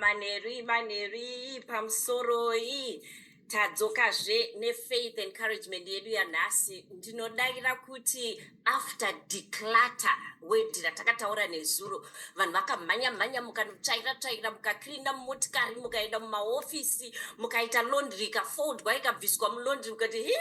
manheru manheru iyi pamusoroi tadzokazve nefaith encouragement yedu yanhasi ndinodaira kuti after declata wedhi ratakataura nezuro vanhu vakamhanya mhanya mukanotsvaira tsvaira mukakirina mumotikari mukaenda mumahofisi mukaita londri ikafodwa ikabviswa mulondri mukati hi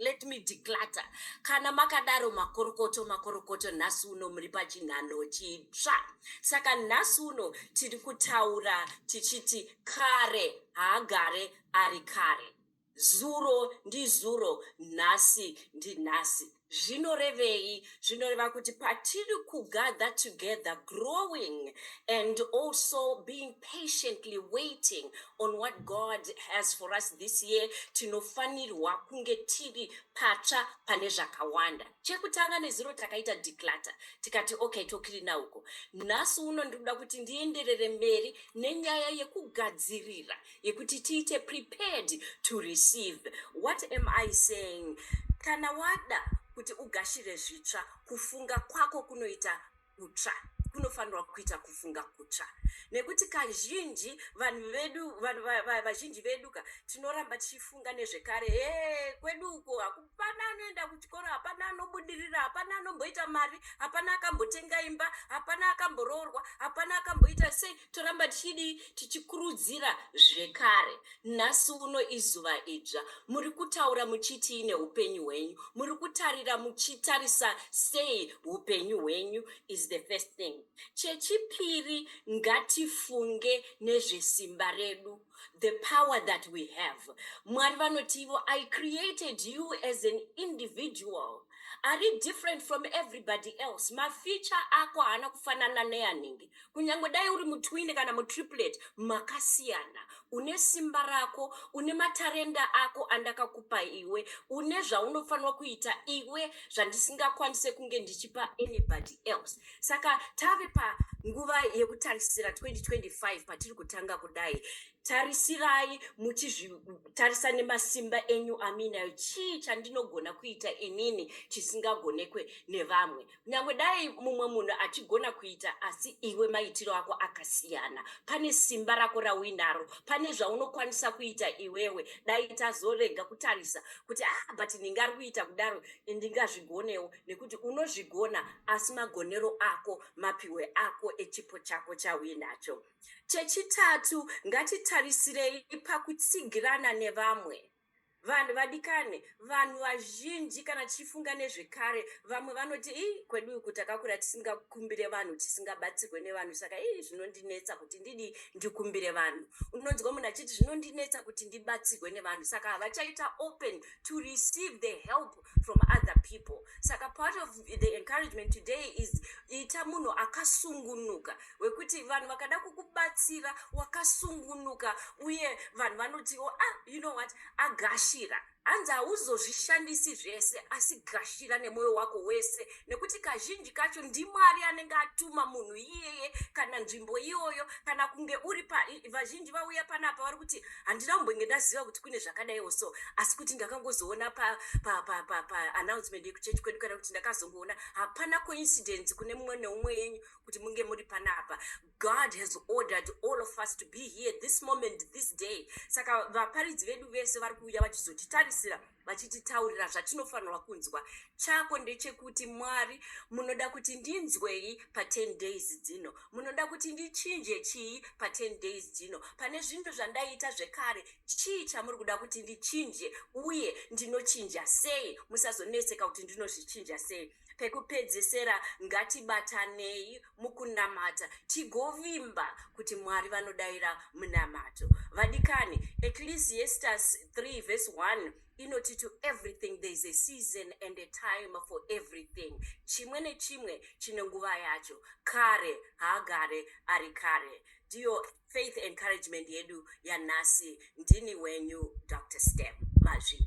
Let me declutter. Kana makadaro makorokoto makorokoto nhasi uno muri pachinhanho chitsva. Saka nhasi uno tiri kutaura tichiti kare haagare ari kare. Zuro ndizuro, nhasi ndinhasi. Zvinorevei zvinoreva kuti patiri kugather together growing and also being patiently waiting on what god has for us this year tinofanirwa kunge tiri patsva pane zvakawanda chekutanga nezuro takaita declatter tikati okay tokirina uko nhasi uno ndikuda kuti ndienderere mberi nenyaya yekugadzirira yekuti tiite prepared to receive what am i saying kana wada kuti ugashire zvitsva kufunga kwako kunoita kutsva kunofanirwa kuita kufunga kutsva nekuti kazhinji vanhu vedu vanhu vazhinji vedu ka tinoramba tichifunga nezvekare e kwedu uko hapana anoenda kuchikoro hapana anobudirira hapana anomboita mari hapana akambotenga imba hapana akamboroorwa hapana akamboita sei toramba tichidii tichikurudzira zvekare nhasi uno izuva idzva muri kutaura muchitii neupenyu hwenyu muri kutarira muchitarisa sei upenyu hwenyu is the first thing chechipiri ngatifunge nezvesimba redu the power that we have mwari vanoti ivo i created you as an individual ari different from everybody else mafeature ako haana kufanana neanenge kunyange dai uri mutwine kana mutriplet makasiyana une simba rako une matarenda ako andakakupa iwe une zvaunofanirwa kuita iwe zvandisingakwanise kunge ndichipa anybody else saka tave panguva yekutarisira 2025 patiri kutanga kudai tarisirai muchizvitarisa nemasimba enyu aminayo chii chandinogona kuita inini chisingagonekwe nevamwe kunyange dai mumwe munhu achigona kuita asi iwe maitiro ako akasiyana pane simba rako rauinaro pane zvaunokwanisa kuita iwewe dai tazorega kutarisa kuti ah but ndingari kuita kudaro ndingazvigonewo nekuti unozvigona asi magonero ako mapiwe ako echipo chako chauinacho chechitatu ngatitarisirei pakutsigirana nevamwe vanhu vadikane vanhu vazhinji kana tichifunga nezvekare vamwe vanoti ii kwedu uku takakura tisingakumbire vanhu tisingabatsirwe nevanhu saka ii zvinondinetsa kuti ndidi ndikumbire vanhu unonzwa munhu achiti zvinondinetsa kuti ndibatsirwe nevanhu saka havachaita open to receive the help from other people saka part of the encouragement today is ita munhu akasungunuka wekuti vanhu vakada kukubatsira wakasungunuka uye vanhu vanotiwo oh, ah you know what agashira hanzi hauzozvishandisi zvese asi gashira nemwoyo wako wese nekuti kazhinji kacho ndimwari anenge atuma munhu iyeye kana nzvimbo iyoyo kana kunge uri pa vazhinji vauya panapa vari kuti handina kumbenge ndaziva kuti kune zvakadaiwo so asi kuti ndakangozoona paannouncement yekuchechi kwedu kana kuti ndakazongoona hapana coincidence kune mumwe neumwe yenyu kuti munge muri panapa god has ordered all of us to be here this moment this day saka vaparidzi vedu vese vari kuuya vachizotitarisira vachititaurira zvatinofanirwa kunzwa chako ndechekuti mwari munoda kuti ndinzwei pa10 days dzino munoda kuti ndichinje chii pa10 days dzino pane zvinhu zvandaiita zvekare chii chamuri kuda kuti ndichinje uye ndinochinja sei musazonetseka kuti ndinozvichinja sei Pekupedzesera, ngatibatanei mukunamata tigovimba kuti Mwari vanodaira munamato. Vadikani, Ecclesiastes 3 verse 1 inoti to everything there is a season and a time for everything. Chimwe nechimwe chine nguva yacho. Kare haagare ari kare. Ndiyo faith encouragement yedu yanhasi. Ndini wenyu Doctor Stem Mazvi.